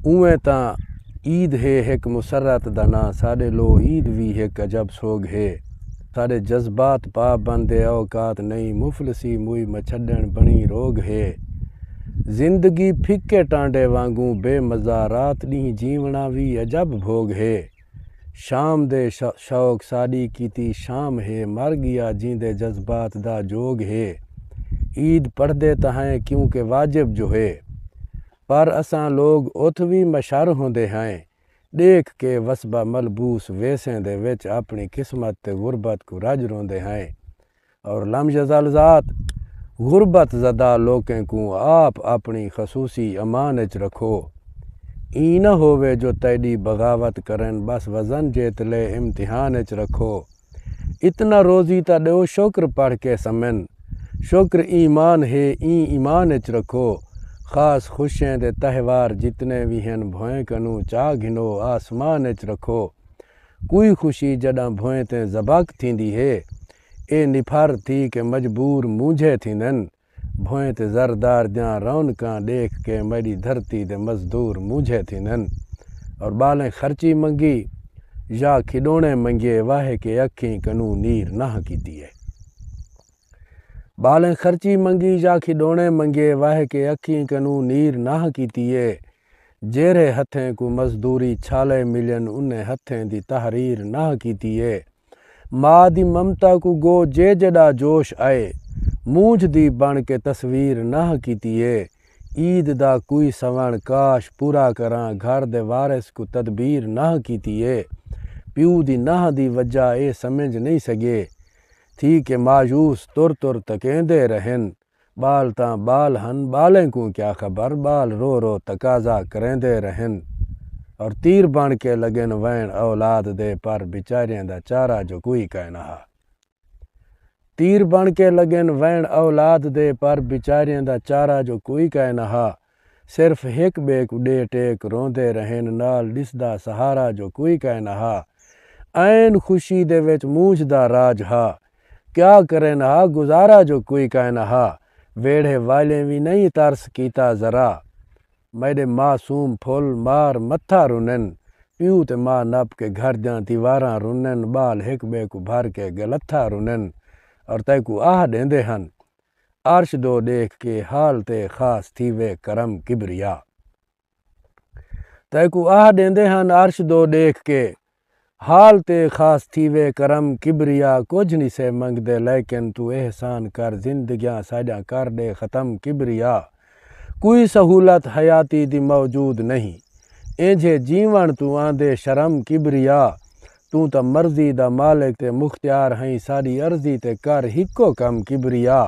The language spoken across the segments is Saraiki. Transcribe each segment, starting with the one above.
اونویں تاں عید ہے ہک مسرت دا ناں ساڈے لو عید وی ہک عجب سوگھ ہے ساڈے جذبات پا بند اے اوقات نئیں مفلسی موئی مچھڈن بنڑی روگھ ہے زندگی پھکے ٹانڈے وانگوں بے مزہ رات ڈینہہ جیونڑاں وی عجب بھوگ ہے شام دے شوق ساڈی کیتی شام ہے مر گیا جیندے جذبات دا جوگ ہے عید پڑھدے تاں ہئیں کیونکہ واجب جو ہے۔ پر اساں لوگ اتھ وی مشر ہوندے ہئیں، ڈیکھ کے وسبا ملبوس ویسیں دے وچ اپنی قسمت تے غربت کوں رج روندے ہئیں۔ اور لم یزل ذات، غربت زدہ لوکیں کوں آپ اپنی خصوصی امان اچ رکھو۔ ایں نہ ہووے جو تیڈی بغاوت کرن بس وزن جیت لے امتحان اچ رکھو۔ اتنا روزی تاں ڈیو شکر پڑھ کے سمن شکر ایمان ہے ایں ایمان اچ رکھو خاص خوشیں دے تہوار جتنے وی ہن بھوئیں کنوں چا گھنو آسمان اچ رکھو کوئی خوشی جڈاں بھوئیں تیں زباک تھیندی ہے اے نپھر تھی کے مجبور مونجھے تھیندن بھوئیں تے زر دار دیاں رونقاں ڈیکھ کے میڈی دھرتی دے مزدور مونجھے تھیندن اور بالیں خرچی منگی یا کھڈونے منگیے واہے کے اکھیں کنوں نیر نہاں کیتی اے۔ بالیں خرچی منگی یا کھڈونے منگیے واہے کے اکھیں کنوں نیر نہاں کیتی اے۔ جیرھے ہتھیں کوں مزدوری چھالے ملین انہیں ہتھیں دی تحریر نہاں کیتی اے۔ ماء دی ممتا کوں گو جے جڈا جوش ائے مونجھ دی بن کے تصویر نہہ کیتی اے عید دا کوئی سوݨ کاش پورا کراں گھر دے وارث کوں تدبیر نہہ کیتی اے پیو دی نہہ دی وجہ اے سمجھ نئیں سگے تھی کہ مایوس تر تر تکیندے رہن ٻال تاں ٻال ہن ٻالیں کوں کیا خبر ٻال رو رو تقاضا کریندے رہن اور تیر بݨ کے لڳن وین اولاد دے پر بیچاریاں دا چارہ جو کوئی کائنا ہا تیر بݨ کے لڳن وین اولاد دے پر بیچاریاں دا چارہ جو کوئی کائنا ہا صرف ہک ٻئے کوں ݙے ٹیک روندے رہن نال ݙسدا سہارا جو کوئی کائے نہ ہا۔ عین خوشی دے وچ مونجھ دا راج ہا۔ کیا کرن ہا گزارا جو کوئی کائے نہ ہا۔ ویڑھے والیں وی نئیں ترس کیتا ذرا۔ میݙے معصوم پھل مار متھا رنن۔ پیو تے ماء نپ کے گھر دیاں دیواراں رنن۔ ٻال ہک ٻئے کوں بھر کے ڳلتھا رنن۔ اور تیکوں آہ ݙیندے ہن۔ عرش دو ݙیکھ کے حال تے خاص تھیوے کرم کبریا تیکوں آہ ݙیندے ہن عرش دو ݙیکھ کے حال تے خاص تھیوے کرم کبریا کجھ نی سے منگدے لیکن توں احسان کر زندگیاں ساݙیاں کر ݙے ختم کبریا کوئی سہولت حیاتی دی موجود نہیں اینجھے جیون توں آندے شرم کبریا توں تاں مرضی دا مالک تے مختیار ہئیں ساڈی عرضی تے کر ہکو کم کبریا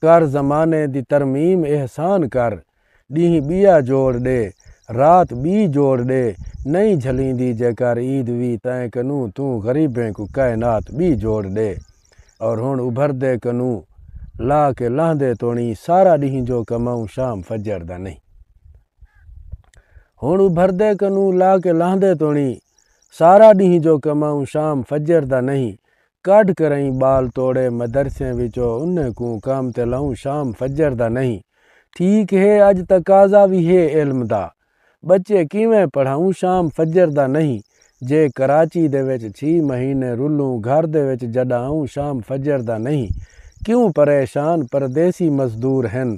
کر زمانے دی ترمیم احسان کر ڈینہہ بیا جوڑ ڈے رات بی جوڑ ڈے نہیں جھلیندی جے کر عید وی تائیں کنوں توں غریبیں کوں کائنات بی جوڑ ڈے۔ اور ہن ابھردے کنوں لا کے لہندے توڑیں سارا ڈینہہ جو کماؤں شام فجر دا نہیں ہن ابھردے کنوں لا کے لہندے توڑیں سارا ڈینہہ جو کماؤں شام فجر دا نہیں کڈھ کرائیں بال توڑے مدرسیں وچو انہیں کوں کام تے لاؤں شام فجر دا نہیں ٹھیک ہے اج تقاضا وی ہے علم دا بچے کیویں پڑھاؤں شام فجر دا نہیں جے کراچی دے وچ چھی مہینے رلوں گھر دے وچ جڈا آؤں شام فجر دا نہیں کیوں پریشان پردیسی مزدور ہن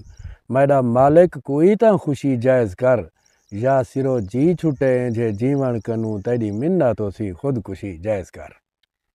میڈا مالک کوئی تاں خوشی جائز کر یا سرو جی چھٹے اینجھے جیون کنوں تیڈی منت ہوسی خود کشی جائز کر۔